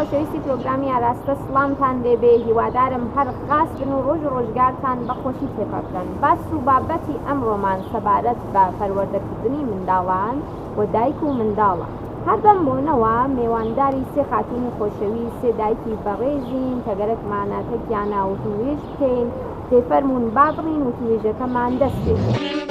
خۆشەویستی پرۆگرامی ئاراستە سڵامتان لێبێ هیوادارم هەر خاس بن و ڕۆژ ڕۆژگارتان بە خۆشی تێپەکەن باس و بابەتی ئەمڕۆمان سەبارەت بە پەروەردەکردنی منداڵان و دایک و منداڵە. هەر بەم بۆنەوە مێوانداری سێ خاتوونی خۆشەویست، سێ دایکی بەڕێزین کە گەرەکمانە تەکیانە وتووێژ بکەین، دەی فەرموون با بڕین وتووێژەکەمان دەست پێ بکەین.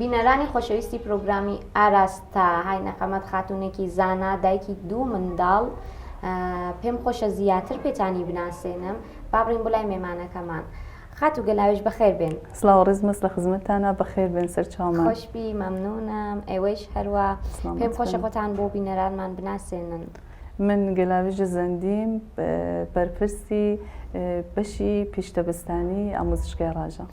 بینەرانی خۆشەویستی پرۆگرامی ئاراستە های نەقەمەت خاتونێکی زانا دایکی دوو منداڵ پێم خۆشە زیاتر پێتانی بناسێنم بابڕین بۆ لای مێمانەکەمان خات و گەلاویش بەخێر بێن سلااو ڕزمەس لە خزمەتانە بەخێر بێن سەر چاومەشبی مەمنونم ئێوەیش هەروە پێم خۆشە خۆتان بۆ بینەرانمان بناسێنن. من گەلاویژ زەندیم بەرپرسی بەشی پیشتەبستانی ئامۆزشگای ڕاژە.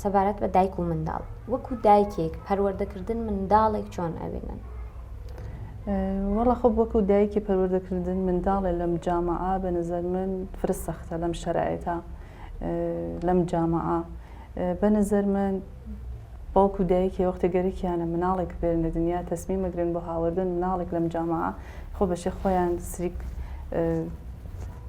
سەبارەت بە دایک و منداڵ وەکو دایکێک پەروەردەکردن منداڵێک چۆن ئەبینن؟ وەڵا خۆ وەکو دایکی پەروەردەکردن منداڵێ لەم جامعە بە نظر من فرە سەختە لەم شەرعێتە لەم جامعە بە نظر من باوک و دایکی وەختی گەرەکیانە مناڵێک بێن لە دنیا تەسمی مەگرن بۆ هاوردن مناڵێک لەم جامعە خۆ بەشێ خۆیان سریک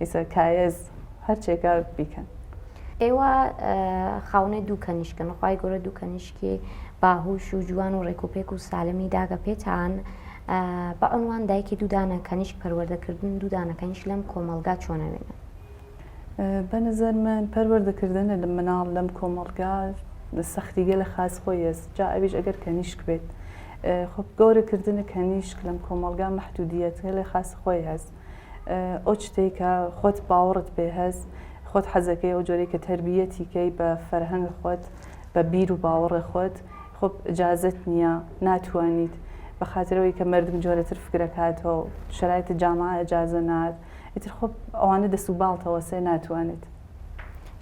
ئیسە کایەز هەرچێکە بیکەن. ئێوە خاونێ دوو کەنیشکن خوای گەورە دوو کەنیشکی باهوش و جوان و ڕێکوپێک و سالمی داگە پێتان بە عنوان دایکی دوودانە کەنیشک پەروەردەکردن دوودانەکەنیش لەم کۆمەلگا چۆنەوێنن بە نظر من پەروەردەکردن لە مناڵ لەم کۆمەلگا سەختیگە لە خاز خۆی هێز جا ئەویش ئەگەر کەنیشک بێت خۆ گەورەکردنە کەنیشک لەم کۆمەلگا محدودیت لە خاز خۆی هەست ئەو شتەی کە خۆت باوەڕت پێ هەس خۆت حەزەکەی ئەو جۆرەی کە تەربیەتی کەی بە فەرهەنگ خۆت بە بیر و باوەڕێ خۆت خۆ جازت نییە ناتوانیت بەخاترەوەی کە مردم جۆرەتر فکرەکاتەوە شرایت جامعە ئەجازە نات ئیتر خۆ ئەوانە دەسوباڵتەوە سێ ناتوانێت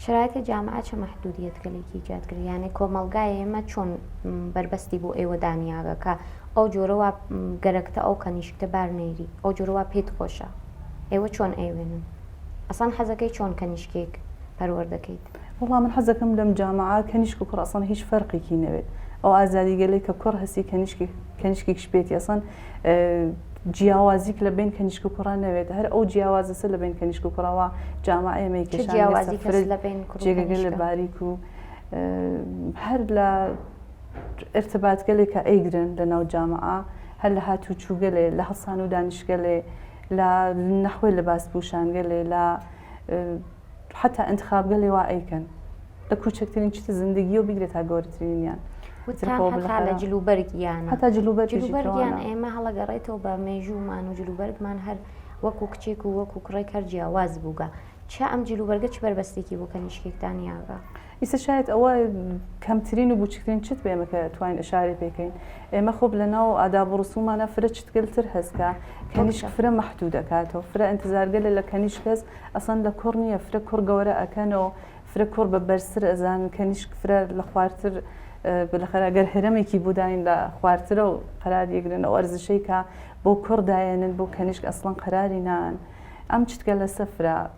شرایط جامعە چ محدودیت کە لێکی جات کرد یانێ کۆمەڵگای ئێمە چۆن بەربەستی بۆ ئێوە دانیاگە کە ئەو جۆرەوە گەرەکتە ئەو کەنیشکتە بار نەیری ئەو جۆرەوە پێت خۆشە ئێوە چۆن ئەیوێنن ئەسان حەزەکەی چۆن کەنیشکێک پەروەەر دەکەیت وڵا من حەزەکەم لەم جامعە کەنیشک و کوڕ ئەسان هیچ فەرقێکی نەوێت ئەو ئازادیگەلێک کە کوڕ هەستی کەنیشکی کەنیشکیش پێێتی ئەسان جیاوازیک لە بەین کەنیشک و کوڕا نەوێت هەر ئەو جیاوازەسە لە بەین کەنیشک و کوڕەوە جامە ئێمەی جێگەگە لە باریک و هەر لە ارتباتگەلێکە ئەیگرن لە ناو جامە هەر لە هاتوو چووگەلێ لە هەسان و دانیشگەلێ لە نەخۆی لە باس پوشانگەلێ لە حەتا ئەنتخابگە لێوا ئەیکەن لە کوچکترین چتە زندگیەوە بیگرێت تا گەورەترینیان لە جلوبەرگیان هەتا جلوبەرگیان ئێمە هەڵەگەڕێتەوە بە مێژوومان و جلوبەرگمان هەر وەکو کچێک و وەکو کوڕێک هەر جیاواز بووگە چ ئەم جلوبەرگە چ بەربەستێکی بۆ کەنیشکێکتان یاگە. ئیسە شایەت ئەوە کەمترین و بوچکترین چت بێمە کە توانین ئشارەی پێکەین ئێمە خۆب لە ناو ئاداب و ڕسومانە فرە چتگەلتر هەستکە کەنیشک فرە مەحدود دەکاتەوە فرە ئەنتزارگەلە لە کەنیشک هەست ئەسەن لە کوڕ نییە فرە کوڕ گەورە ئەکەنەوە فرە کوڕ بە بەرزتر ئەزانن کەنیشک فرە لە خوارتر بلەخەر ئەگەر هەرەمێکی بوداین لە خوارترە و قەرار یەگرن ئەو ئەرزشەی کە بۆ کوڕ دایێنن بۆ کەنیشک ئەسڵەن قەراری نان ئەم چتگەلە سەفرە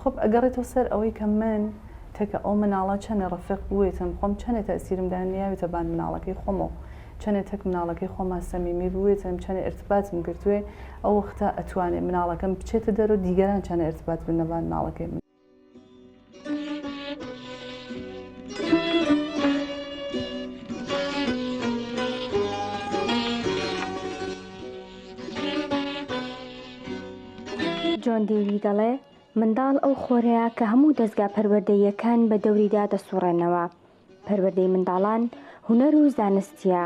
خۆپ ئەگەڕێتەوە سەر ئەوەی کە من تەکە ئەو مناڵە چەنێ ڕەفێق بوێتم خۆم چەنێ تەئسیرم دایە نیاوێتە بان مناڵەکەی خۆمۆ چەنێ تەک مناڵەکەی خۆما سەمیمی بوێتم چەنێ ئێرتباتم گرتوێ ئەو وەختە ئەتوانێ مناڵەکەم بچێتە دەرۆ دیگەران چەنێ ئێرتبات بنە بان مناڵەکەی من. جۆن دیوی دەڵێ منداڵ ئەو خۆرەیە کە هەموو دەزگا پەروەردەییەکان بە دەوریدا دەسوڕێنەوە پەروەردەی منداڵان هونەر و زانستیە،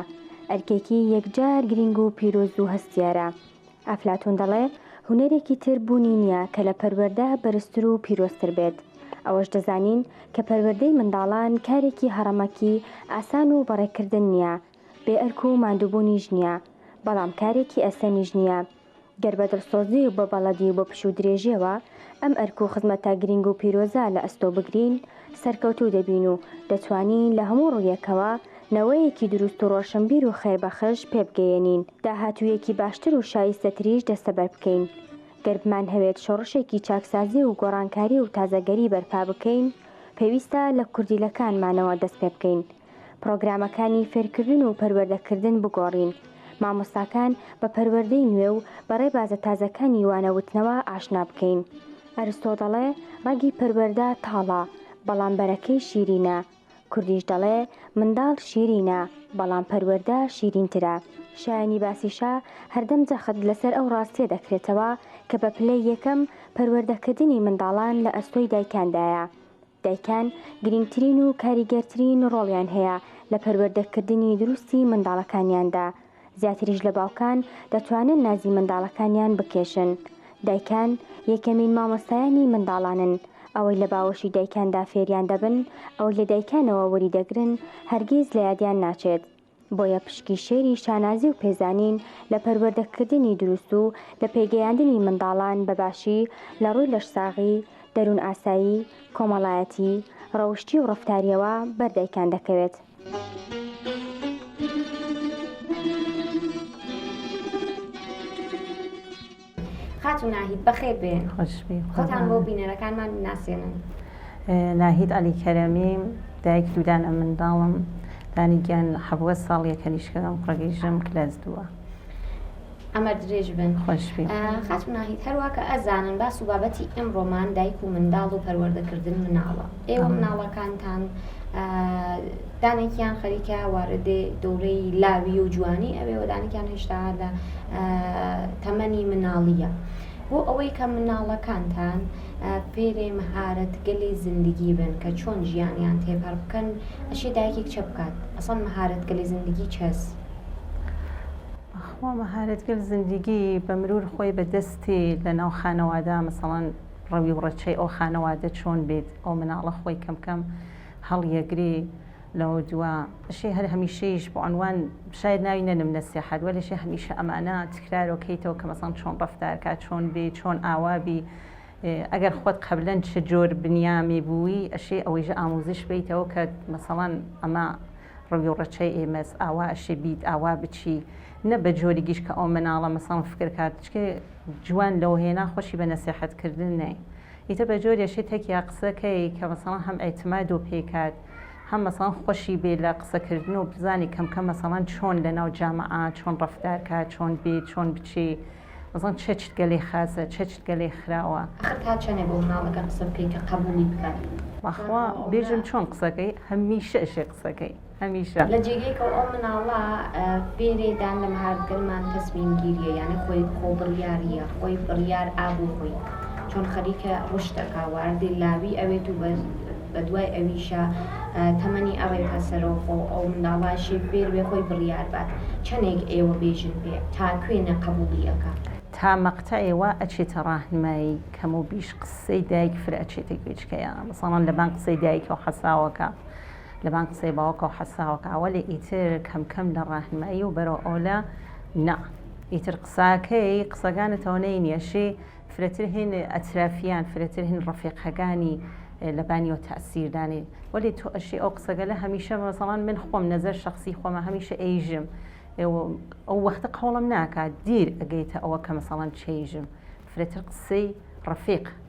ئەرکێکی یەکجار گرینگ و پیرۆز و هەستیارە. ئەفلاتون دەڵێ، هونەرێکی تر بوونی نیە کە لە پەروەردە بەرزتر و پیرۆزتر بێت. ئەوەش دەزانین کە پەروەردەی منداڵان کارێکی هەڕەمەکی ئاسان و بەڕێکردن نیە، بێ ئەرک و ماندووبوونیش نیە، بەڵام کارێکی ئەستەمیش نیە. گەر بە دڵسۆزی و بە بەڵەدی و بە پشوو درێژیەوە ئەم ئەرک و خزمەتە گرینگ و پیرۆزە لە ئەستۆ بگرین، سەرکەوتوو دەبین و دەتوانین لە هەموو ڕوویەکەوە نەوەیەکی دروست و ڕۆشنبیر و خێربەخش پێبگەیەنین، داهاتوویەکی باشتر و شایستەتریش دەستەبەر بکەین. گەر بمانهەوێت شۆڕشێکی چاکسازی و گۆڕانکاری و تازەگەری بەرپا بکەین، پێویستە لە کوردیلەکانمانەوە دەست پێبکەین. پڕۆگرامەکانی فێرکردن و پەروەردەکردن بگۆڕین، مامۆستاکان بە پەروەردەی نوێ و بە ڕێبازە تازەکانی وانەوتنەوە ئاشنا بکەین. ئەرستۆ دەڵێ ڕەگی پەروەردە تاڵە، بەڵام بەرەکەی شیرینە. کوردیش دەڵێ منداڵ شیرینە، بەڵام پەروەردە شیرینترە. شایانی باسیشە هەردەم جەخت لەسەر ئەو ڕاستیە دەکرێتەوە کە بە پلەی یەکەم پەروەردەکردنی منداڵان لە ئەستۆی دایکاندایە، دایکان گرنگترین و کاریگەرترین ڕۆڵیان هەیە لە پەروەردەکردنی دروستی منداڵەکانیاندا، زیاتریش لە باوکان دەتوانن نازی منداڵەکانیان بکێشن. دایکان یەکەمین مامۆستایانی منداڵانن، ئەوەی لە باوەشی دایکاندا فێریان دەبن، ئەوەی لە دایکانەوە وەریدەگرن هەرگیز لە یادیان ناچێت. بۆیە پشکی شێری شانازی و پێزانین لە پەروەردەکردنی دروست و لە پێگەیاندنی منداڵان بە باشی لە ڕووی لەشساغی، دەروون ئاسایی، کۆمەڵایەتی، ڕەوشتی و ڕەفتارییەوە بەر دایکان دەکەوێت. خاتوو ناهید بەخێر بێن. خۆش بی. خۆتان بۆ بینەرەکانمان بناسێنن. ناهید عەلی کەرەمی، دایک دوو دانە منداڵم. دانی گیان حەڤوە ساڵ یە کەنیشکەکەم کوڕە گیژم کلاس دووە. ئەمەر درێژ بن. خۆش بی. خاتوو ناهید، هەروا کە ئەزانن باس و بابەتی ئیمڕۆمان دایک و منداڵ و پەروەردەکردن مناڵە. ئێوە مناڵەکانتان دانێکیان خەریکە واردێ دەورەی لاوی و جوانی ئەوێ وەدانێکیان هێشتا لە تەمەنی مناڵیە بۆ ئەوەی کە مناڵەکانتان پێرێ مەهارەت گەلی زیندگی بن کە چۆن ژیانیان تێپەر بکەن ئەشی دایکێک چە بکات ئەسڵان مەهارەت گەلی زیندگی چەس خوا مەهارەتگەل زیندگی بە مرور خۆی بە دەستی لە ناو خانەوادا مەسەڵەن ڕەوی و ڕەچەی ئەو خانەوادە چۆن بیت ئەو مناڵە خۆی کەم کەم هەڵیەگری لەوە دوا شی هەر هەمیشەیش بۆ عنوان شاید ناوی نەنم نەسی حد وەلی شی هەمیشە ئەمانە تکرارۆ کەیتەوە کە مەسان چۆن ڕفتارکە چۆن بی چۆن ئاوابی ئەگەر خۆت قبلەن چ جۆر بنیامی بووی ئەشی ئەوەیژ ئاموزش بیتەوە کە مەسەڵان ئەمە ڕوی و ڕەچەی ئێمەس ئاوا ئەشی بیت ئاوا بچی نە بە جۆری گیش کە ئەو مناڵە مەسان فکرکات چکێ جوان لو هێنا خۆشی بە نەسێحەت کردن نای ئیتر بە جۆرێ شێ تەکیا قسە کەی کە مەسەڵەن هەم ئێتماد و پێی کات هەم مەسەڵەن خۆشی بێ لە قسە کردن و بزانی کەم کەم مەسەڵەن چۆن لە ناو جامەعا چۆن ڕەفتار کا چۆن بێ چۆن بچێ مەسەڵەن چە چت گە لێ خاسە چە چت گە لێ خراوە. ئەخر تا چەنێ بۆ مناڵەکە قسە بکەی کە قەبووڵی بکات. بەخوا بێژم چۆن قسەکەی هەمیشە ئەشێ قسەکەی. هەمیشە. لە جێگەی کە ئەو مناڵە بێرێ دان لە مهار گەرمان تەسمیم گیریە یانە خۆی خۆ بڕیاریە خۆی بڕیار ئابوو خۆی چۆن خەریکە ڕشت ئەکا واردی لاوی ئەوێت و بە دوای ئەویشە تەمەنی ئەڕێتە سەرەوە خۆ ئەو منداڵاشی بێروێ خۆی بڕیار بات چەنێک ئێوە بێژن پێ تا کوێنە قەبووڵی ئەکا. تا مەقتەعێ وا ئەچێتە ڕاهنمایی کەموبیش قسەی دایک فرە ئەچێتە گوێچکەیا ساڵان لەبان قسەی دایکەو حەساوەکە. لەبان قسەی باوکەوە حەساوەکە وەلێ ئیتر کەم کەم لە ڕاهنمایی و بەرەو ئەولە نا ئیتر قساکەی قسەگانت ئەونەی نیەشی فرەتر هین ئەترافیان فرەتر هین ڕەفیقەگانی لەبانی و تەسیردانی وەلی تۆ ئەشی ئەو قسەگەلە هەمیشە مەسەڵان من خۆم نەزەر شخصی خۆمە هەمیشە ئەیژم ئەو وەختە قەوڵم ناکات دیر ئەگەیتە ئەوە کە مەسەڵەن چێژم فرەتر قسەی ڕەفیق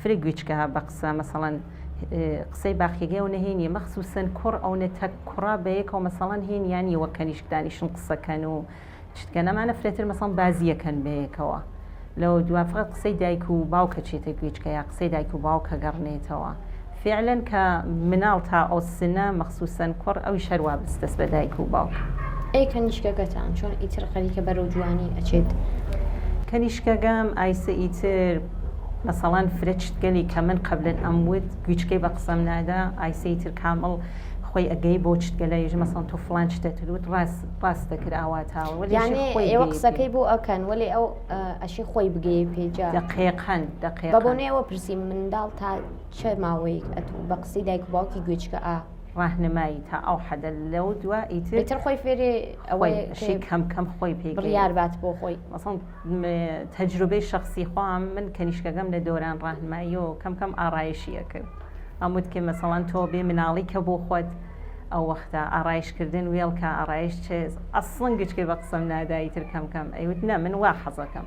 فرە گویچکە ها بە قسە مەسەڵەن قسەی باقیگەو نەهێنیە مەخسوسن کوڕ ئەو نە تەک کوڕا بە یەکەوە مەسەڵەن هێن یانی وە کەنیشک دانیشن قسەکەن و شتکە نەمانە فرەتر مەسەڵ بازیەکەن بە یەکەوە لەوە دوا فقط قسەی دایک و باوکە چێتە گویچکە یا قسەی دایک و باوکە گەڕنێتەوە فیعلەن کە مناڵ تا ئەوسنە مەخسوسەن کوڕ ئەویش هەر وابست دەست بە دایک و باوک. ئەی کەنیشکەگەتان چۆن ئیتر خەریکە بەرەو جوانی ئەچێت؟ کەنیشکەگەم ئایسە ئیتر مەسەڵەن فرە چتگەلی کە من قەبلن ئەموت گویچکەی بە قسەم نادا ئایسە ئیتر کامڵ خۆی ئەگەی بەو چتگەلە یژ مەسەڵەن تۆ فڵان چتت وت ڕاست ڕاست دەکرد ئاواتاوە وەلێ یانێ ئیشی خۆی ئێوە گەی پێ. قسەکەی بۆ ئەکەن وەلێ ئەو ئە ئەشی خۆی بگەیە پێی جا دەقێقەن دەقێقەن. بەبۆنەی ئەوە پرسیم منداڵ تا چە ماوەیک ئەتوو بە قسەی دایک و باوکی گوێچکە ئا. ڕاهنمایی تا ئەو حەدە لەو دوا ئیتر. ئیتر خۆی فێری ئەوە یە کە. شی کەم کەم خۆی پێ. بڕیار بات بۆ خۆی. مەسەڵەن تەجروبەی شەخسی خۆم من کەنیشکەکەم لە دۆران ڕاهنمایی و کەم کەم ئاڕایشی ئەکرد ئەم وت کە مەسەڵەن تۆ بێ مناڵی کە بۆ خۆت ئەو وەختە ئاڕایش کردن وێڵ کە ئاڕایش چێ ئەسڵەن گوێچکەی بە قسەم نادا ئیتر کەم کەم ئەی وت نە من وا حەزەکەم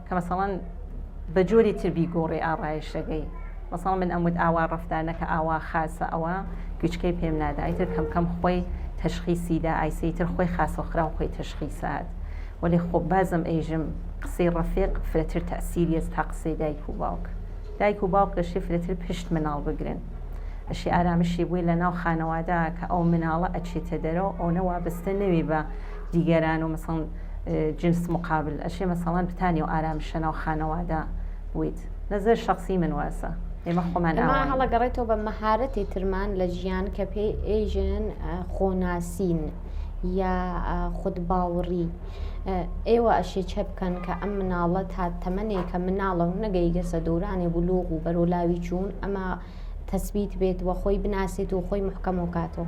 کە مەسەڵەن بە جۆری تر بیگۆڕی ئاڕایشتەگەی مەسەڵەن من ئەموت ئاوا ڕەفتار نەکە ئاوا خاسە ئەوە گوچکەی پێم نادا ئیتر کەم کەم خۆی تەشخیسی دا ئایسەی تر خۆی خاسە خراو خۆی تەشخیسات وەلێ خۆ بازم ئەیژم قسەی ڕەفیق فرەتر تەسیر یەس تا قسەی دایک و باوک دایک و باوک لەشێ فرەتر پشت مناڵ بگرن ئەشی ئارامشی بووی لە ناو خانەوادە کە ئەو مناڵە ئەچێتە دەرەوە ئەونە وابستە نەوی بە دیگەران و مەسەڵەن جنس مقابل ئەشێ مەسەڵەن بتانێ و ئارام بشە ناو خانەوادە ویت نەزەر شخصی من واسە ئێمە خۆمان ئەما هەڵەگەڕێتەوە بە مەهارەتی ترمان لە ژیان کە پێی ئێژن خۆناسین یا خود باوڕی ئێوە ئەشێ چە بکەن کە ئەم مناڵە تا تەمەێکە مناڵە و نەگەی گەسە دورانێ بلوغ و بەرۆلاوی چوون ئەمە تەسبیت بێت وە خۆی بناسێت و خۆی محکەم و کاتەوە.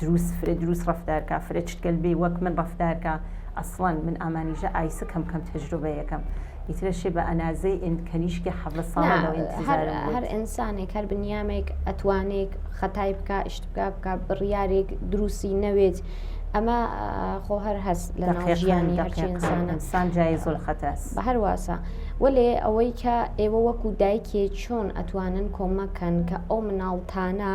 دروس فرە دروس ڕەفتار کا فرە چتگەل بێ وەک من ڕەفتار کا ئەسڵەن من ئامانیژە ئایسک هەم کەم تەجروبەیەکەم ئیترە شێ بە ئەنازەی ئێند کەنیشکی حەڤە ساڵە لەو ئینتیزارم بوو هەر ئینسانێک هەر بنیامێک ئەتوانێک خەتای بکا ئیشت بکا بکا بڕیارێک دروسی نەوێت ئەمە خۆ هەر هەست لە ناژیانی ئەرچینسان جای زۆر خەتەس بە هەر واسە وەلێ ئەوەی کە ئێوە وەکو دایکێ چۆن ئەتوانن کۆمەکەن کە ئەو مناڵتانە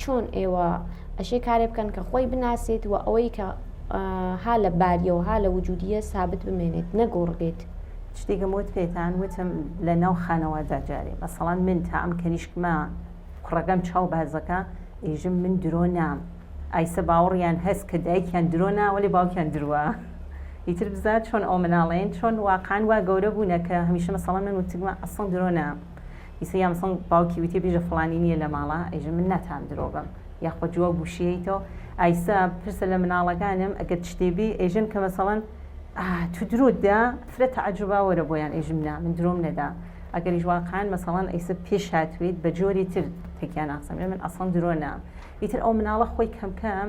چۆن ئێوە ئەشێ کارێ بکەن کە خۆی بناسێت و ئەوەی کە ها لە باریە و ها لە وجودیە سابت بمێنێت نەگۆڕ بێت. شتێکم وت پێتان وتم لە ناو خانەوادا جارێ مەسەڵەن من تا ئەم کەنیشکمە کوڕەکەم چاو بازەکە ئێژم من درۆ نام ئایسە باوەڕیان هەس کە دایکیان درۆ نا وەلێ باوکیان دروە ئیتر بزا چۆن ئەو مناڵەین چۆن واقعەن وا گەورە بوونە کە هەمیشە مەسەڵەن من وتگمە ئەسڵەن درۆ نا. ئیسە یام سنگ باوکی ویتیە بیژە فڵانی نیە لە ماڵە ئیژە من ناتام درۆ بم یاخوە جواب وشیەیتۆ ئایسە پرسە لە مناڵەگانم ئەگەر چتێ بی ئیژن کە مەسەڵەن ئاه تو درۆت دا فرە تەعەجوبا وەرە بۆیان ئیژم نا من درۆم نەدا ئەگەریش واقعەن مەسەڵەن ئیسە پێش هاتویت بە جۆری تر تەکیا ناقسم ئێ من ئەسڵەن درۆ نام ئیتر ئەو مناڵە خۆی کەم کەم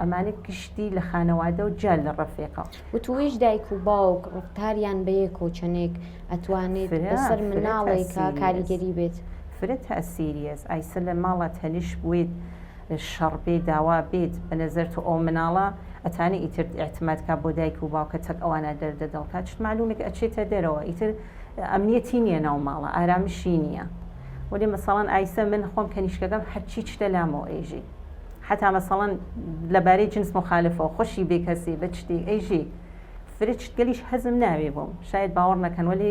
ئەمانە گشتی لە خانەوادە و جیا لە ڕەفێقەوە وتوویش دایک و باوک ڕفتاریان بەیەک و چەنێک ئەتوانێت بەسەر مناڵێکە کاریگەری بێت فرە تاسیریەس ئایسە لە ماڵە تەنیش بێت شەڕ بێ داوا بێت بە نەزەر تۆ ئەو مناڵە ئەتانە ئیتر ئاعتماد کا بۆ دایک و باوکە تەک ئەوانە دەردە دڵکە چ معلومێک ئەچێتە دەرەوە ئیتر ئەمنیەتی نییە ناو ماڵە ئارامشی نییە وەێ مەساڵان ئایسە من خۆم کەنیشکەکەم هەرچی چتە لامەوە ئێژی حەتا مەسەڵەن لە بارەی جنس مخالفەوە، خوشی بێ کەسی بە چتی ئەیژی فرچ گەلیش حەزم ناوێ بۆم، شایەد باوەڕ نەکەن وەلێ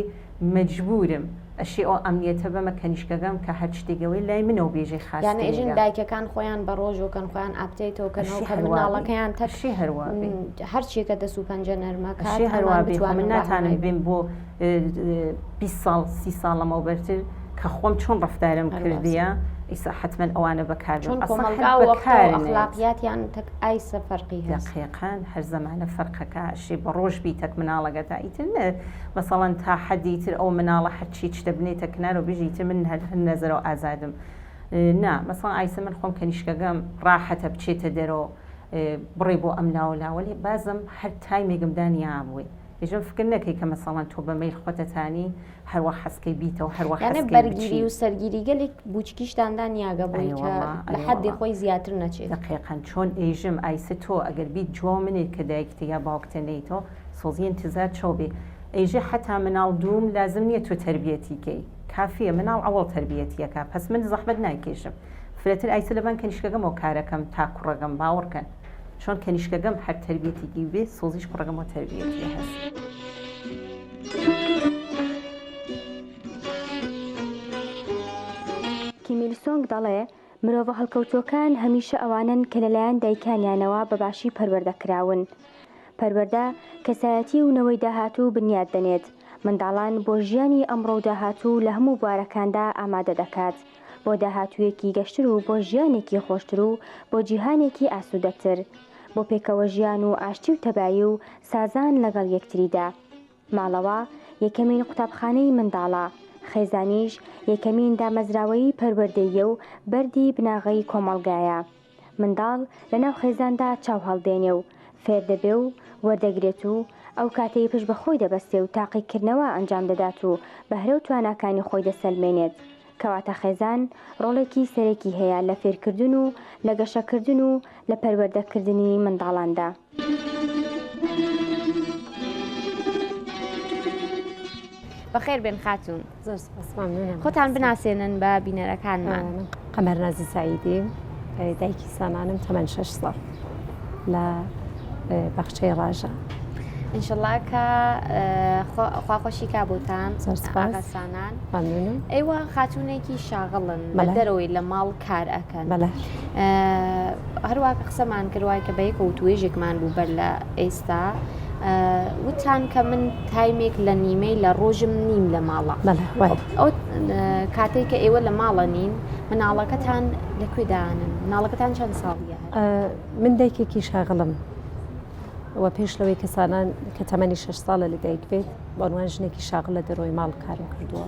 مەجبوورم ئەشێ ئەو ئەمنیەتە بەمە کەنیشکەگەم کە هەر چتێ گەوەی لای منەو بێژەی خاس یانە ئێژین کرێگە. دایکەکان خۆیان بە ڕۆژۆ کەن خۆیان ئاپتەیتۆ کەنەوە ئەشێ کە هەروا بێ. مناڵەکەیان تەک ئەشێ هەروا بێ. م، هەرچیەکە دەس و پەنجە نەرمە کات ئەشێ ئەمان هەروا بێ خۆ بتوانن من ڕاهێنای ناتانم بن. بێم بۆ بیست ساڵ سی ساڵ لەمەوبەرتر کە خۆم چۆن ڕفتارم کردیە ئیسا حتمما ئەوانە بەکار چۆن کۆمەڵگاڵاتیان تەک ئایسە فەرقی هەقیقان هەر زمانە فەرقەکە شێ بە ڕۆژ بی تەک مناڵەگە تا ئیتر نە مەسەڵەن تا حەدی تر ئەو مناڵە هەرچی چ دەبنێتە کنار و بژی تر من هەر هەر نەزەرەوە ئازادم نا مەسا ئایسە من خۆم کەنیشکەگەم ڕاحەتە بچێتە دەرەوە بڕێ بۆ ئەم ناوە لاوەێ بازم هەر تایمێکم دانیابووی ئیجا فکر نەکەی کە مەسەڵەن تۆ بە مەیل خۆتەتانی هەروا حەزکەی بیتەوە هەروا یانە حەزکەی بەرگیری بچی و سەرگیری گەلێک بوچکیشتان دانیاگە بۆی ئەی کە وەڵا، لە ئەی حەدی وەڵا. خۆی زیاتر نەچێت دەقیقا چۆن ئێژم ئایسە تۆ ئەگەر بیت جوا منێ کە دایکتە یا باوکتە نەیتۆ سۆزی ئینتزار چەو بێ ئێژێ حەتا مناڵ دووم لازم نیە تۆ تەربیەتی کەی کافیە مناڵ ئەوەڵ تەربیەتی ئەکا پەس من زەحمەت نایکێشم فرەتر ئایسە لەبان کەنیشکەگەمەوە کارەکەم تا کوڕەگەم باوەڕ کەن چۆن کەنیشکەگەم هەر تەربیەتێکی بێ سۆزیش کوڕەکەمەوە تەربیەتی هەست. کیمیل سۆنگ دەڵێ مرۆڤە هەڵکەوتووەکان هەمیشە ئەوانن کە لەلایەن دایکانیانەوە بە باشی پەروەردە کراون. پەروەردە کەسایەتی و نەوەی داهاتوو بنیاد دەنێت، منداڵان بۆ ژیانی ئەمڕۆ و داهاتوو لە هەموو بوارەکاندا ئامادە دەکات. بۆ داهاتوویەکی گەشتر و بۆ ژیانێکی خۆشتر و بۆ جیهانێکی ئاسوودەتر، بۆ پێکەوە ژیان و ئاشتی و تەبایی و سازان لەگەڵ یەکتریدا. ماڵەوە یەکەمین قوتابخانەی منداڵە، خێزانیش یەکەمین دامەزراوەیی پەروەردەییە و بەردی بناغەی کۆمەڵگایە. منداڵ لە ناو خێزاندا چاو هەڵدێنێ و فێر دەبێ و وەردەگرێت و ئەو کاتەی پشت بە خۆی دەبەستێ و تاقیکردنەوە ئەنجام دەدات و بەهرە و تواناکانی خۆی دەسەلمێنێت. کەواتە خێزان ڕۆڵێکی سەرەکی هەیە لە فێرکردن و لە گەشەکردن و لە پەروەردەکردنی منداڵاندا. بەخێر بێن خاتون زۆر سپاس ممنونم خۆتان بناسێنن بە بینەرەکانمان من قەمەر نازی سعیدی دایکی سامانم تەمەن شش ساڵ لە بەخچەی ڕاژە انشالله کە خواخۆشی کا بۆتان زۆر سپاس ئاغا سانان ممنونم ئێوە خاتونێکی شاغڵن بە دەرەوەی لە ماڵ کار ئەکەن هەروا کە قسەمان کرد وای کە بە یەکە وتوێژێکمان بوو بەر لە ئێستا وتان کە من تایمێک لە نیمەی لە ڕۆژم نیم لە ماڵە ئەو کاتێک کە ئێوە لە ماڵە نین مناڵەکەتان لەکوێدانن مناڵەکەتان چەند ساڵیە من دایکێکی شاغڵم و پێش لەوەی کەسانان کە تەمەنی شش ساڵە لە دایک بێت بەڵوان ژنێکی شاغل لە دەرۆی ماڵ کارم کردووە.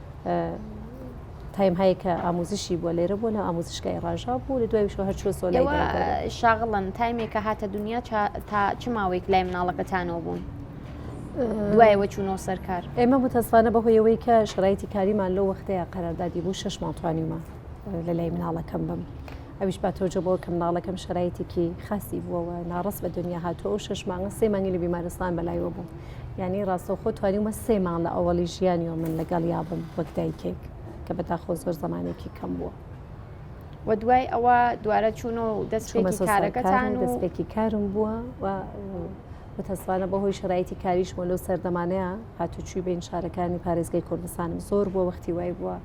تایم هەیە کە ئاموزشی بووە لێرە بووە نە ئاموزشکای ڕژا بوو لە دوایش هەر چۆ سۆلای شاغڵن تایمێکە هاتە دنیا تا چ ماوەیەک لای مناڵەکەتانەوە بوون. دوایەوە چوونەوە سەرکار ئێمە متەسانە بەهۆیەوەی کە شرایتی کاریمان لەو وەختەیە قەراردادی بوو شش ماڵتوانیمان لە لای مناڵەکەم بم ئەویش با تۆجە بۆ کە مناڵەکەم شەرایتێکی خاسی بووەوە ناڕست بە دنیا هاتووە ئەو شش مانگە سێ مانگی لە بیمارستان بەلایەوە بوو یعنی ڕاستەوخۆ توانیومە سێ مانگ لە ئەوەڵی ژیانیەوە من لەگەڵ یابم وەک دایکێک کە بەداخۆ زۆر زمانێکی کەم بووە. و دوای ئەوە دوارە چوون و دەستێکی کارەکەتان و دەستێکی کارم بووە و متەسفانە بەهۆی شرایتی کاریشمە لەو سەردەمانەیە هاتوچوی بین شارەکانی پارێزگای کوردستانم زۆر بووە وەختی وای بووە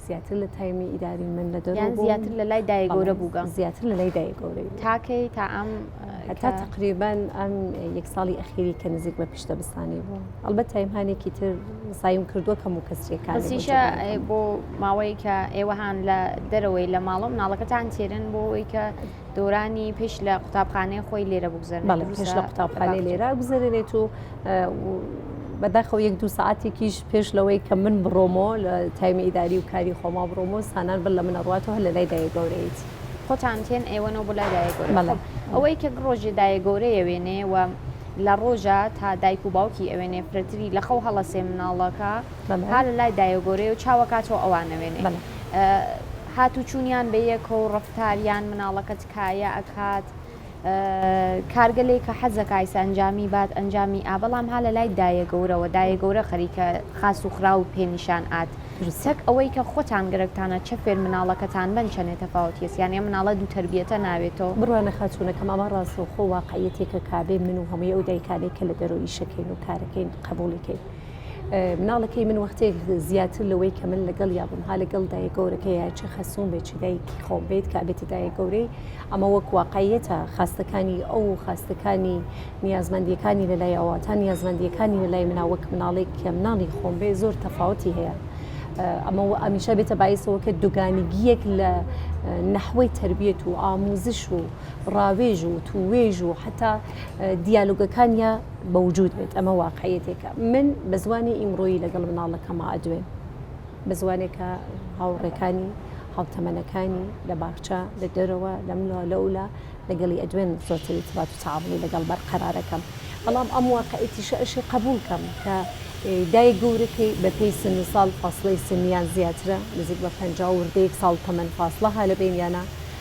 زیاتر لە تایمی ئیداری من لە دەرەوە بوو. زیاتر لە لای دایە گەورە بووگە. زیاتر لە لای دایە گەورە. تاکەی تا ئەم هەتا تقریبان ئەم یەک ساڵی ئەخیری کە نزیک بە پیشتە بستانی بوو. ئەڵبەت تایمهانێکی تر سایم کردووە کەم و کەسریەکان. بەسیشە بۆ ماوەیەکە ئێوەهان لە دەرەوەی لە ماڵە مناڵەکەتان تێرن بۆ ئەوەی کە دورانی پێش لە قوتابخانەیە خۆی لێرە بگوزەر پێش لە قوتابخانەی لێرا گوزەرێت و بەداخەوە یەک دو ساعتێکیش پێش لەوەی کە من بڕۆمۆ لە تایمی ئیداری و کاری خۆما بڕۆمۆ سانان بل لە منە ڕاتەوە لە لای دای گەورەیت. خۆتان تێن ئێوەەوە بۆ لای دایە گەورە ئەوەی کە ڕۆژێ دایە گەورەیە وێنێ و لە ڕۆژە تا دایک و باوکی ئەوێنێ پرەتری لە خەو هەڵەسێ مناڵەکە هەر لای دایۆگۆرەیە و چاوەکاتەوە ئەوانەوێنێ. هاتوچونیان بە یەکە و ڕەفتار یان مناڵەکە تکایە ئەکات کارگە لەی کە حەزە کایسە ئەنجامی بات ئەنجامی ئا بەڵام ها لە لای دایە گەورەوە دایە گەورە خەریکە خاس و خراو و پێ نیشان ئات تەک ئەوەی کە خۆتان گەرەکتانە چە فێر مناڵەکەتان بەن چەنێ تەفاوت یەس یان ئێ مناڵە دوو تەربیەتە ناوێتۆ. بڕوانە خاتوونەکەم ئەمە ڕاستەوخۆ واقعیەتێکە کابێ من و هەمووی ئەو دایکانەی کە لە دەرەوە ئیشەکەین و کارەکەین قبوڵی کەین، مناڵەکەی من وەختێک زیاتر لەوەی کە من لەگەڵ یا بم ها لەگەڵ دایە گەورەکە یا چی خەسوون بێت چی دایکی خۆم بێت کا بێتە دایە گەورەی ئەمە وەک واقعەتە خاستەکانی ئەو خاستەکانی نیازمەندیەکانی لە لای ئەوەتا نیازمەندیەکانی لە لای منا وەک مناڵێک کە مناڵی خۆم بێ زۆر تەفاوتی هەیە. ئەمە و ئەمیشە بێتە باعیسەوە کە دوگانیگیەک لە نەحوەی تربیەت و ئاموزش و ڕاوێژ و توێژ و حتا دیالوگەکانیا بەوجود بێت ئەمە واقعیەتێکە من بە زمانی ئیمڕۆیی لەگەڵ مناڵەکەما ئەدوێن بە زمانێکە هاوڕێکانی هاوتەمەنەکانی لە باخچە لە دەرەوە لەملا لەولا لەگەڵی ئەدوێن زۆرتری تبات و تعاونی لەگەڵ بەرقەرارەکەم بەڵام ئەم واقعێتیشە ئەشی قبول کەم کە دای گەورەکەی بە پێی سن و ساڵ فاصلەی سنیان زیاترە نزیک بە پ وردەیەک ساڵ تەمەەن فاصلە هالە بینیانە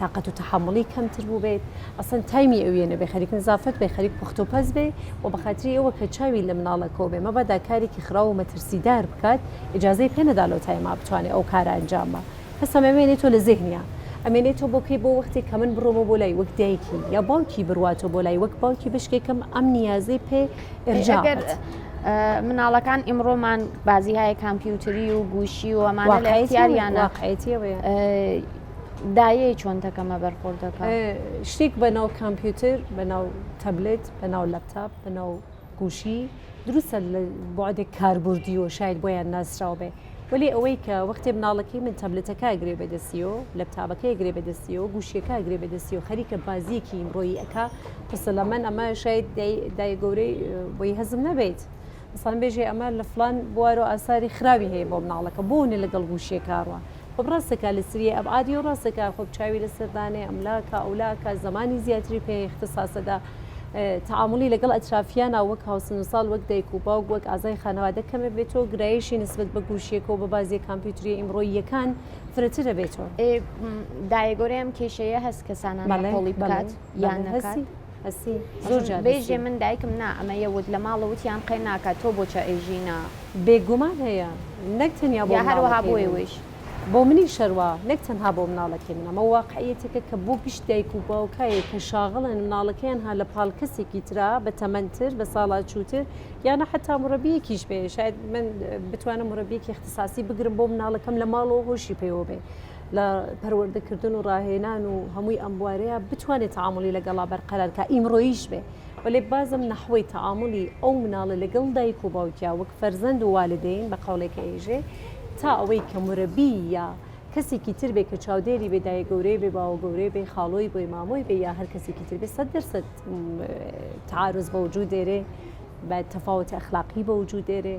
تاقەت و تەحەموڵی کەمتر بووبێت ئەسەن تایمی ئەویە نەبێ خەریک نزافەت بێ خەریک پوخت و پەس بێ و بە خاتری ئەوە کە چاوی لە مناڵەکەوە بێ مەبادا کارێکی خراو و مەترسیدار بکات ئیجازەی پێ نەدا لەو تایما بتوانێ ئەو کارە ئەنجام با هەستم ئەمێنێتەوە لە زێهنیا ئەمێنێتەوە بۆ کەی بۆ وەختێک کە من بڕۆمەوە بۆ لای وەک دایکی یا باوکی برواتەوە بۆ لای وەک باوکی بەشکێکم ئەم نیازەی پێ ئێرجا بێت. مناڵەکان ئیمڕۆمان بازیهایە کامپیوتری و گوشی و ئەمانە لە اختیاریانە. واقعیەتیەوەیە. دایەی چۆنتەکەمە بەرخۆردەکە شتێک بە ناو کامپیوتر بە ناو تەبلێت بە ناو لەپتاپ بە ناو گوشی دروستە لە بۆعدێک کاربردی و شاید بۆیان ناسرااو بێ ولی ئەوەی کە وەختێ مناڵەکەی من تەبلێتەکە گرێ بەدەستی و لە تابەکەی گرێ بەدەستی و گوشیەکە گرێ بەدەستی و خەریکە بازیەکی ئیمڕۆیی ئەک قسە لە من ئەمە شاید دای گەورەی بۆی هەزم نەبیت مثلەن بێژێ ئەمە لە فلان بوارۆ ئاساری خراوی هەیە بۆ مناڵەکە بۆنێ لەگەڵ گوشیەکەڕوە خۆب ڕاستە کا لەسریێ ئەبعادی و ڕاستە کا خۆب چاوی لەسەر دانێ ئەملا کا ئەولا کا زەمانی زیاتری پێ ئیختساسە دا تەعامولی لەگەڵ ئەترافیانا وەک هاوسن و ساڵ وەک دایک و باوک وەک ئازای خانەوادە کەمێ بێتۆ گرایشی نسبەت بە گووشیەکەو بە بازیە کامپیوتریە ئیمڕۆییەکان فرەترە بێتۆ. ئێ دایە گۆرەی ئەم کێشەیە هەس کەسانان نکۆڵی بکات یان نەکات؟ هەستی زۆر جار هەستی. بژی من دایکم نا ئەمە یە وت لە ماڵ وت یان قەی ناکا تۆ بۆ چە ئەی ژینا. بێ گومان هەیە نەک تەنیا بۆ مناڵەکەی من بۆ منی شەروا نەک تەنها بۆ مناڵەکەی من ئەمە واقعیەتێکە کە بۆ گشت دایک و باوکایە کە شاغڵن مناڵەکەیان ها لە پاڵ کەسێکی ترا بە تەمەن تر بە ساڵا چووتر یانە حتا مڕەبیەکیش بێ شاید من بتوانم مڕەبیەکی اختساسی بگرم بۆ مناڵەکەم لە ماڵەوە هۆشی پێوە بێ لە پەروەردەکردن و ڕاهێنان و هەمووی ئەم بوارەیە بتوانێت تعاملی لەگەڵا بەرقەرار کە ئیمڕۆیش بێ وەێ بازم نەحوی تعاملی ئەو مناڵە لەگەڵ دایک و باوکیا وەک فەرزەند و والدین بە قەڵێکە ئێژێ تا ئەوەی کە مرەبی یا کەسێکی تر بێ کە چاودێری بێ دایە گەورەی بێ باوە گەورەی بێ خاڵۆی بۆی مامۆی بێ یا هەر کەسێکی تر بێ سەد دەرسە تعاعرز بە وجود دێرێ بە تەفاوت ئەخلاقی بە وجود دێرێ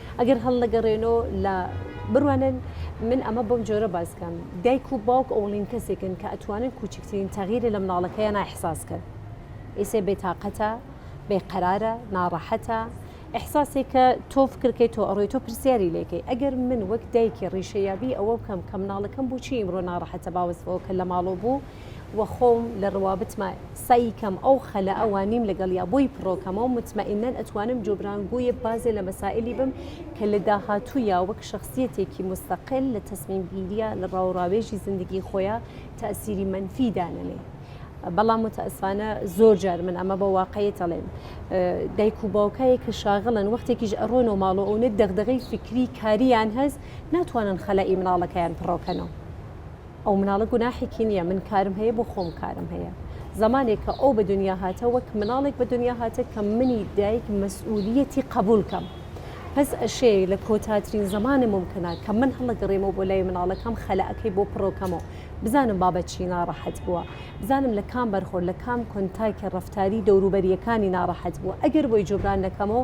ئەگەر هەڵنەگەڕێنۆ لە بڕوانن من ئەمە بەم جۆرە باس کەم، دایک و باوک ئەوڵین کەسێکن کە ئەتوانن کووچکترین تەغیرێ لە مناڵەکەیانا ئیحساس کەن. ئیسێ بێ تاقەتە، بێ قەرارە، ناڕەحەتە، ئیحساسێ کە تۆ فکر کەی تۆ ئەڕۆی تۆ پرسیاری لێ کەی. ئەگەر من وەک دایکێ ڕیشە یابی ئەوە بکەم کە مناڵەکەم بۆچی ئیمڕۆ ناڕەحەتە باوەسفەوە کە لە ماڵۆ بوو، وە خۆم لە ڕوابتما سەعی کەم ئەو خەلە ئە وە نیم لەگەڵیا بۆی پڕۆ کەمە و متمئنەن ئەتوانم جۆبران گۆیە بازێ لە مەسائیلی بم کە لە داهاتوویا وەک شەخسیەتێکی موستەقل لە تەسمیم گیریا لە ڕاو ڕاوێژی زندگی خۆیا تەئسیری مەنفی دانەنێ بەڵام متاسفانە زۆر جار من ئەمە بە واقعیت ئەڵێم دایک و باوکایە کە شاغڵن وەختێکیش ئەڕۆن و ماڵۆ ئەونە دەغدەغەی فکری کاریان هەست ناتوانن خەلە ئی مناڵەکەیان پڕۆکەنەوە ئەو مناڵە گوناحێکی نییە من کارم هەیە بۆ خۆم کارم هەیە زمانێک کە ئەو بە دنیا هاتە وەک مناڵێک بە دنیا هاتە کە منی دایک مەسئولیەتی قبولکەم پس ئەشێ لە کۆتاترین زمانە ممکنە کە من هەڵەگەڕێمەوە بۆ لای مناڵەکەم خەلەکەی بۆ پڕۆکەمەوە بزانم بابە چی ناڕەحەت بووە بزانم لە کام بەرخۆر لە کام کۆنتاکی ڕفتاری دەوروبەریەکانی ناڕەحەت بووە ئەگەر بۆی جوبران نەکەمەوە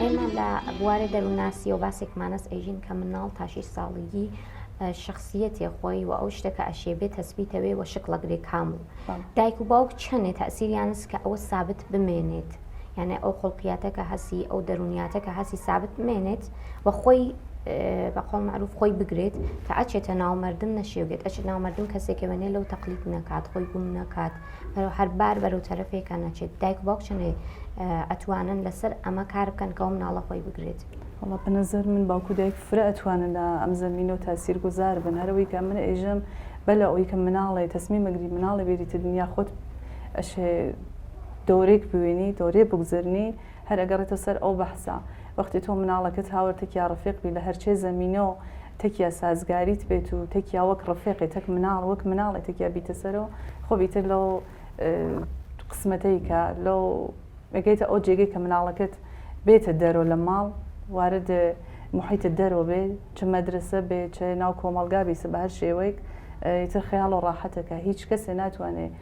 ئێمە لە بوارێ دەروناسیەوە باسێکمانەس ئەژین کە مناڵ تاشی ساڵیگی شخصیەتێ خۆی و ئەو شتەکە ئەشێ بێت تەسبیتەوێ و شکڵە گرێ کام و دایک و باوک چەندێ تاسیریانس کە ئەوە سابت بمێنێت یانە ئەو خڵقیاتەکە هەسی ئەو دەرونیاتەکە هەسی سابت بمێنێت و خۆی بە قۆڵ معروف خۆی بگرێت کە ئەچێتە ناومەردم نەشێوێت ئەچێت ناومەردم کەسێکەوێنێ لەو تەقلیت نەکات خۆی گوم نەکات بەرەو هەر بار بەرەو تەرەفێکە نەچێت دایک باوک چەندێ ئەتوانن لەسەر ئەمە کار بکەن کەەوە مناڵە خۆی بگرێت. وەڵا بەنەزەر من باوکو دایک فرە ئەتوانن لە ئەم زەمینە و تاسیر گوزار بن هەر ئەوەی کە من ئێژەم بە لە ئەوەی کە مناڵێ تەسمیم ئەگری مناڵێ بێریتە دنیا خۆت ئەشێ دەورێک بوێنی دەورێ بگوزەرنی هەر ئەگەڕێتە سەر ئەو بەحسە وەختی تۆ مناڵەکەت هاوەر تەکیا ڕفێق بی لە هەرچێ زەمینە و تەکیا سازگاریت بێت و تەکیا وەک ڕفێقێ تەک مناڵ وەک مناڵێ تەکیا بیتە سەر و خۆ بیتر لەو قسمەتەی کە لەو ئەگەیتە ئەو جێگەی کە مناڵەکەت بێتە دەرۆ لە ماڵ وارد محیتە دەرۆ بێ چ مەدرسە بێ چ ناو کۆمەڵگا بیسە بە هەر شێوەیەک ئیتر خەیاڵ و ڕاحەتەکە هیچ کەسێ ناتوانێ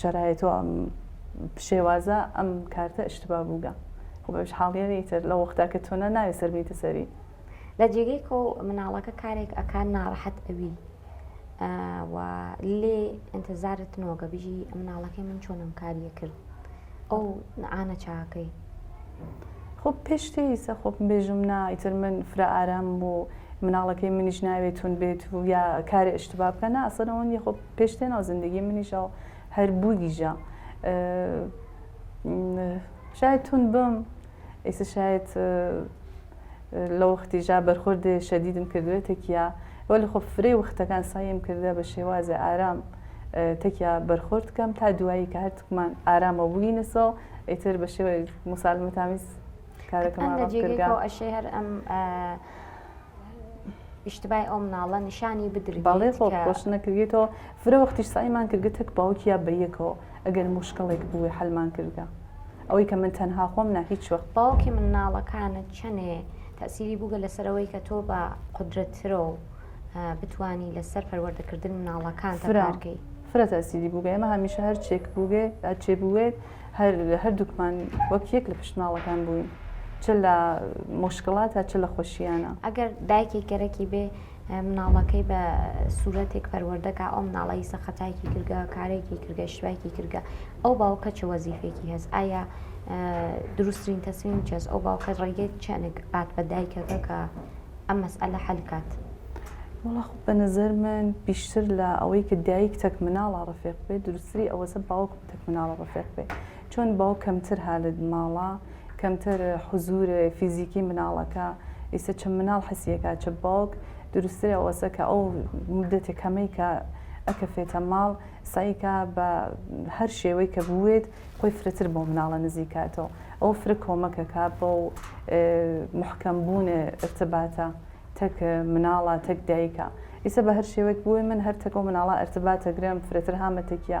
شەرایەت و ئەم شێوازە ئەم کارتە ئشتبا بووگە خۆ بەش حاڵیەنی تر لە وەختا کە تۆنا ناوێ سەر بیتە سەری لە جێگەی کۆ مناڵەکە کارێک ئەکان ناڕەحەت ئەوی و لێ ئەتەزارت نۆگە بژی مناڵەکەی من چۆنم کاریە کرد ئەو نعاە چاکەی خۆ پێشتی سە خۆپ بێژم نا ئیتر من فرە ئارام بوو مناڵەکەی منیش ناوێتون بێت و یا کارێ ئشتبا بکە ناسەرەوەنی خۆ پێش تێ ناو زندگی منیشە هەر بووگیژە شاید تون بم ئیسە شاید لە وەختی ژا بەرخۆردێ شەدیدم کردوێت تەکیا وە لە خۆ فرێ وەختەکان سایم کردە بە شێوازە ئارام تەکیا بەرخۆرد کەم تا دوایی کە هەرتکمان ئارامە بووینەسە ئیتر بە شێوە مسالمەتامیز کارەکەمان کردگە ئەشێ هەر ئەم ئیشتبای ئەو مناڵە نیشانی بدرێت بەڵێ خۆ خۆش نەکردێتەوە فرە وەختیش سایمان کردگە تەک باوکی یا بەیەکەوە ئەگەر مشکڵێک بووێ حلمان کردگە ئەوەی کە من تەنها خۆم نا هیچ وەخت باوکی من ناڵەکانت چەنێ تەسیری بووگە لەسەرەوەی کە تۆ بە قدرەتترە و بتانی لەسەر پەروەردەکردن مناڵەکان فرەکەی فرە تەسیری بووگە ئمە هەمیشە هەرچێک بووگێ ئەچێ بووێت هەر هەردووکمان وەک یەک لە پشت ماڵەکان بووین چ لە مشکلاتە چ لە خۆشییانە ئەگەر دایکی گەرەکی بێ مناڵەکەی بە سوورەتێک پەروەردەکە ئەو مناڵی سەقەتایکی کردگە کارێکی کردگە شوایکی کردگە ئەو باوکە چ وەزیفێکی هەست ئایا دروستترین تەسمیم چێز ئەو باوکە ڕێگەی چەنێک بات بە دایکەکە کە ئەم مەسئلە حەلکات. وڵاخ بە نظر من پیشتر لە ئەوەی کە دایک تەک مناڵە ڕفێق بێت دروستری ئەوەسە باوک تەک مناڵە ڕفێق بێ چۆن باو کەمتر هالت ماڵە کەمتر حزور فیزیکی مناڵەکە ئیسە چ مناڵ حسیەکە چ باوک دروستتر ئەوەسە کە ئەو مدەتی کەمەی کە ئەکە فێتە ماڵ سایکە بە هەر شێوەی کە بوێت خۆی فرەتر بۆ مناڵە نزیکاتەوە ئەو فرە کۆمەکەکە بۆ محکەم بوون ارتباتە تەک مناڵە تەک دایکە ئیسە بە هەر شێوەیەک بووی من هەر تەکۆ مناڵە ارتباتە گرم فرەتر هامەتەکیە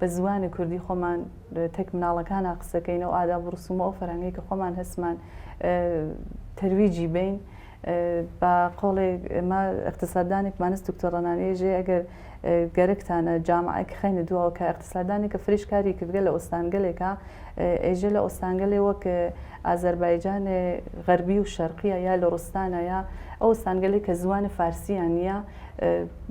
بە زوانی کوردی خۆمان تەک مناڵەکانا قسەکەین ئەو ئاداب و ڕسومە ئەو فەرهەنگەی کە خۆمان هەستمان تەرویجی بین بە قۆڵێ ئمە اقتصاددانێک مانست دکتۆر ڕەنانەیە ژێ ئەگەر گەرەکتانە جامعەک خەینە دواوە کە اقتصاددانێک کە فریش کاری کردگە لە ئۆستانگەلێکە ئێژە لە ئۆستانگەلێ وەک ئازەربایجان غەربی و شەرقیە یا لە ڕستانە یا ئەو ئۆستانگەلێک کە زوانە فارسیان نییە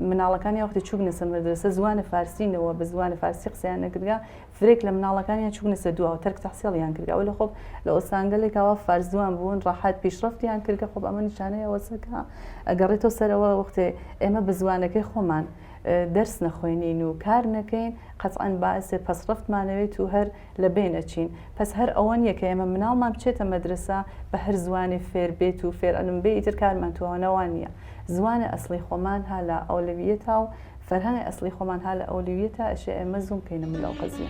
مناڵەکان یا وەختی چوبنە سەر مەدرەسە زوانە فارسی نەوە بە زوانە فارسی قسەیان نەکردگا فرێک لە مناڵەکانیان چوبنە سەر دواوە تەرک تەحسیڵیان کردگا و لە خۆب لە ئۆستانگەلێک ئەوە فارس زوان بوون ڕاحەت پیشڕەفتیان کردگە خۆب ئەمە نیشانەی ئەوەسەکە ئەگەڕێتەوە سەرەوە وەختێ ئێمە بە زوانەکەی خۆمان دەرس نەخوێنین و کار نەکەین قەتعەن باسێ پەسڕەفتمانەوێت و هەر لە بەین ئەچین پەس هەر ئەوە نیە کە ئێمە مناڵمان بچێتە مەدرەسە بە هەر زوانێ فێر بێت و فێر ئەلم بێ ئیتر کارمان توانە وان نیە زوانە ئەسڵی خۆمان ها لە ئەولەویەتا و فەرهەنگە ئەسڵی خۆمان ها لە ئەولویەتا ئەشێ ئێمە زووم کەینە مل لەو قەزیە.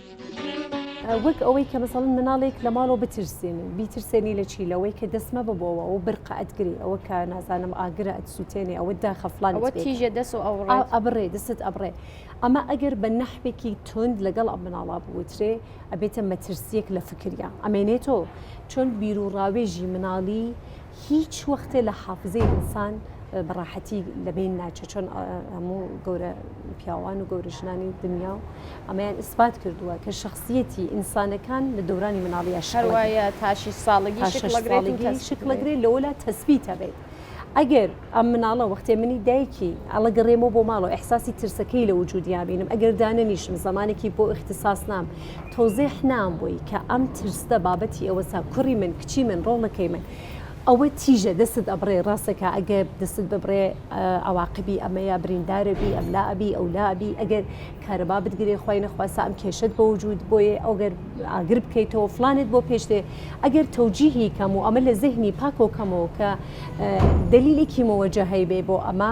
وەک ئەوەی کە مەسەڵەن مناڵێک لە ماڵەوە بترسێنی بیترسێنی لە چی لەوەی کە دەست مەبە بۆوە ئەو برقە ئەتگری ئەوە کە نازانم ئاگرە ئەتسووتێنێ ئەوە داخە فلان ئەوە تیژە دەست و ئەوڕێ ئەبڕێ دەست ئەبڕێ ئەمە ئەگەر بە نەحوێکی تند لەگەڵ ئەم مناڵا بوترێ ئەبێتە مەترسیەک لە فکریا ئەمێنێتۆ چۆن بیرو ڕاوێژی مناڵی هیچ وەختێ لە حافزەی ئینسان بە ڕاحەتی لە بین ناچێت چۆن هەموو گەورە پیاوان و گەورە ژنانی دنیا و ئەمەیان ئیسپات کردووە کە شخصیەتی ئینسانەکان لە دورانی مناڵیە شەروایە تاشی ساڵگی شکلەگرێ لەوەلا تەسبیت هەبێت. ئەگەر ئەم مناڵە وەختێ منی دایکی ئەڵە گەڕێمەوە بۆ ماڵەوە ئەحساسی ترسەکەی لە وجودیا بینم ئەگەر دانەنیشم زمانێکی بۆ اختصاص نام تۆزیح نام بوی کە ئەم ترسدە بابەتی ئەوەسا کوری من کچی من ڕۆڵەکەی من ئەوە تیژە دەستت ئەبڕێ ڕاستەکە ئەگە دەستت ببڕێ ئەواقبی ئەمەیە بریندارەبی ئەملا ئەبی ئەولا ئەبی ئەگەر کارەبا بتگرێ خۆی نەخواسە ئەم کێشت بۆ وجود بۆیە ئەوگەر ئاگر بکەیتەوە فلانت بۆ پێشتێ ئەگەر تەوجیهی کەم و ئەمە لە زهنی پاکۆکەمەوە کە دلیلێکی مەوەجە هەیبێ بۆ ئەمە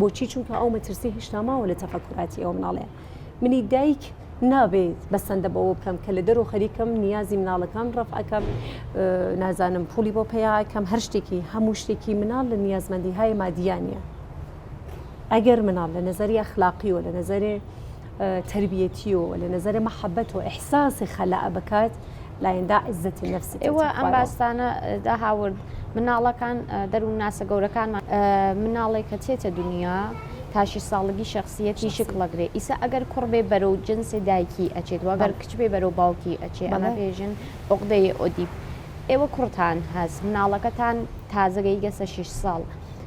بۆچی چونکە ئەو مەترسی هیشتا ماوە لە تەفەکراتی ئەو مناڵێ منی دایک نابێت بەسەندە بەوە بکەم کە لە دەرو خەریکم نیازی مناڵەکان ڕفەکەم نازانم پولی بۆ پیاکەم هەر شتێکی هەموو شتێکی مناڵ لە نیازمەندی های مادیانە ئەگەر مناڵ لە نظری ئەخلاقی و لە نظرێ تەربیەتیەوە لە نەزەرە مەحەبەت و ئیحساسی خەلەع بکات لایەندا عزەتی نەفس ئێوە ئەم باستانە دا هاورد مناڵەکان دەروون ناسە گەورەکانمان مناڵێک کە چێتە دنیا تاشی ساڵگی شخصیەتی شک لەگرێ ئیسا ئەگەر کوڕ بێ بەرەو جنسی دایکی ئەچێت وەگەر کچ بێ بەرەو باوکی ئەچێ ئەمە پێژن عقدەی ئۆدیب ئێوە کوڕتان هەست مناڵەکەتان تازەگەی گەسە 6 ساڵ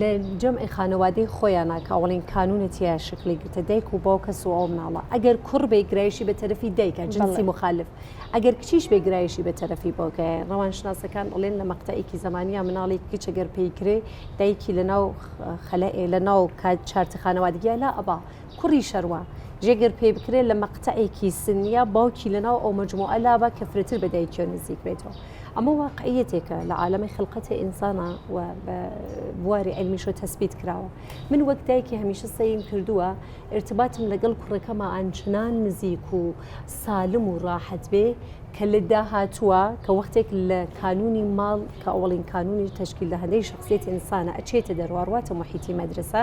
لە جەمعی خانەوادەی خۆیانە کە ئەوڵین کانونە تیا شکلی گرتە دایک و باو کەس و ئەو مناڵە ئەگەر کوڕ بێ گرایشی بە تەرەفی دایکە جنسی مخالف ئەگەر کچیش بێ گرایشی بە تەرەفی باوکایە ڕەوانشناسەکان ئەڵێن لە مەقتەیەکی زمانیا مناڵی کچە گەر پێی کرێ دایکی لە ناو خەلەئێ لە ناو کات چارتی خانەوادگیە لا ئەبا کوڕی شەروا، جێ گەر پێی بکرێ لە مەقتەعێکی سنییە باوکی لە ناو ئەو مەجموعە لابا کە فرەتر بە دایکیان نزیک بێتەوە. ئەمە واقعییەتێکە لە عالەمی خلقەتێ ئینسانا و بە بواری عیلمیشەوە تەسبیت کراوە. من وەک دایکێ هەمیشە سەیرم کردووە ئیرتباتم لە گەڵ کوڕەکەما ئانچنان نزیک و سالم و راحەت بێ کە لە داهاتووا کە وەختێک لە کانوونی ماڵ کە ئەوەڵین کانوونی تەشکیل دەهەندەی شەخسیەتی ئینسانە ئەچێتە دەروا رواتە موحیتی مەدرەسە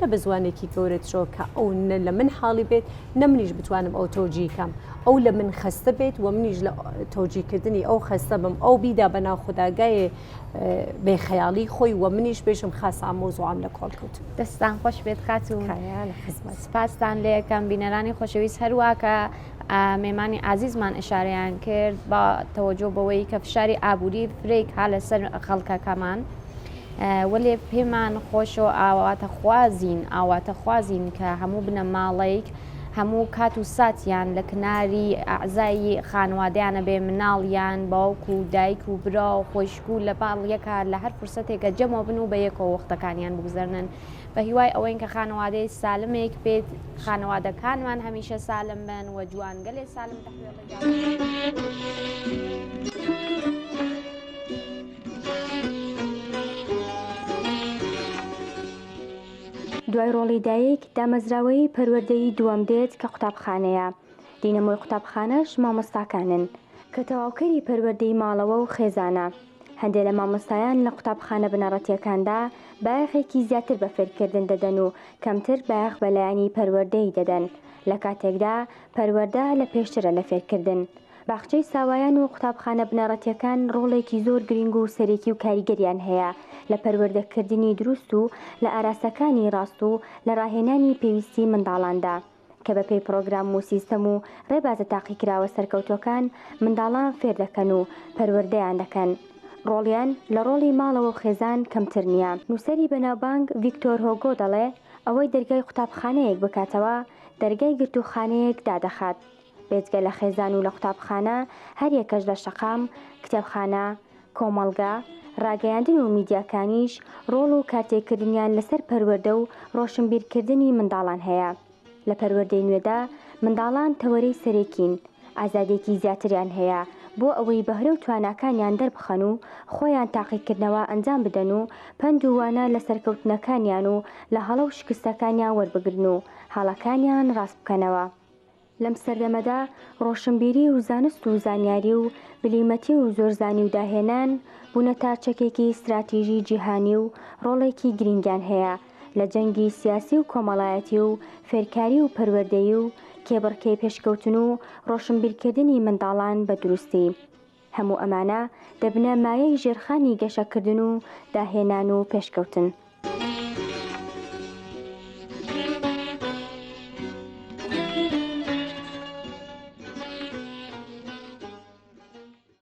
نە بە زوانێکی گەورەترەوە کە ئەو نە لە من حاڵی بێت نە منیش بتوانم ئەو تۆجیکەم ئەو لە من خەستە بێت و منیش لە تۆجیکردنی ئەو خەستە بم ئەو بیدا بە ناوخداگایێ بێ خەیاڵی خۆی و منیش بێژم خاس ئامۆزوام لە کۆڵ کەوت دەستان خۆش بێت خات و سپاستان لە یەکەم بینەرانی خۆشەویست هەرواکە مێمانی ئازیزمان ئشارەیان کرد بە تەوەجۆ بەوەی کە فشاری ئابووری فرێک ها لەسەر خەڵکەکەمان. وەلێ پێمان خۆشە و ئاواتەخوازین ئاواتەخوازین کە هەموو بنەماڵەیک هەموو کات و ساتیان لە کناری ئەعزای خانوادەیانە بێ مناڵ یان باوک و دایک و برا و خۆشک و لە پاڵ یەکا لە هەر فرسەتێکە جەمەوە بن و بە یەکەوە وەختەکانیان بگوزەرنن بە هیوای ئەوەین کە خانوادەی سالمێک بێت خانوادەکانمان هەمیشە سالم بن و جوانگەلێ سالم تەحویڵ دوای ڕۆڵی دایک دامەزراوەیی پەروەردەیی دووەم دێت کە قوتابخانەیە دینەمۆی قوتابخانەش مامۆستاکانن کە تەواوکەری پەروەردەی ماڵەوە و خێزانە هەندێک لە مامۆستایان لە قوتابخانە بنەڕەتیەکاندا بایەخێکی زیاتر بە فێرکردن دەدەن و کەمتر بایەخ بە لایەنی پەروەردەیی دەدەن لە کاتێکدا پەروەردە لە پێشترە لە فێرکردن. باخچەی ساوایان و قوتابخانە بنەڕەتیەکان ڕۆڵێکی زۆر گرینگ و سەرێکی و کاریگەریان هەیە لە پەروەردە کردنی دروست و لە ئاراستەکانی ڕاست و لە ڕاهێنانی پێویستی منداڵاندا کە بە پێی پڕۆگرام و سیستەم و ڕێبازە تاقیکراوە سەرکەوتوەکان منداڵان فێر دەکەن و پەروەردەیان دەکەن ڕۆڵیان لە ڕۆڵی ماڵەوە و خێزان کەمتر نیە. نوسەری بەناوبانگ ڤیکتۆر هۆگۆ دەڵێ ئەوەی دەرگای قوتابخانەیەک بکاتەوە دەرگای گرتووخانەیەک دادەخات. بێجگە لە خێزان و لە قوتابخانە، هەریەکەش لە شەقام، کتێبخانە، کۆمەڵگە، ڕاگەیاندن و میدیاکانیش ڕۆڵ و کارتێکردنیان لەسەر پەروەردە و ڕۆشنبیرکردنی منداڵان هەیە. لە پەروەردەی نوێدا منداڵان تەوەرەی سەرەکین. ئازادیەکی زیاتریان هەیە بۆ ئەوەی بەهرە و تواناکانیان دەربخەن و خۆیان تاقیکردنەوە ئەنجام بدەن و پەند و وانە لە سەرکەوتنەکانیان و لە هەڵە و شکستەکانیان وەربگرن و هەڵەکانیان ڕاستبکەنەوە. لەم سەردەمەدا ڕۆشنبیری و زانست و زانیاری و بلیمەتی و زۆرزانی و داهێنان بوونەتە چەکێکی ستراتیژی جیهانی و ڕۆڵێکی گرینگیان هەیە لە جەنگی سیاسی و کۆمەڵایەتی و فێرکاری و پەروەردەیی و کێبڕکێی پێشکەوتن و ڕۆشنبیرکردنی منداڵان بە دروستی هەموو ئەمانە دەبنە مایەی ژێرخانی گەشەکردن و داهێنان و پێشکەوتن.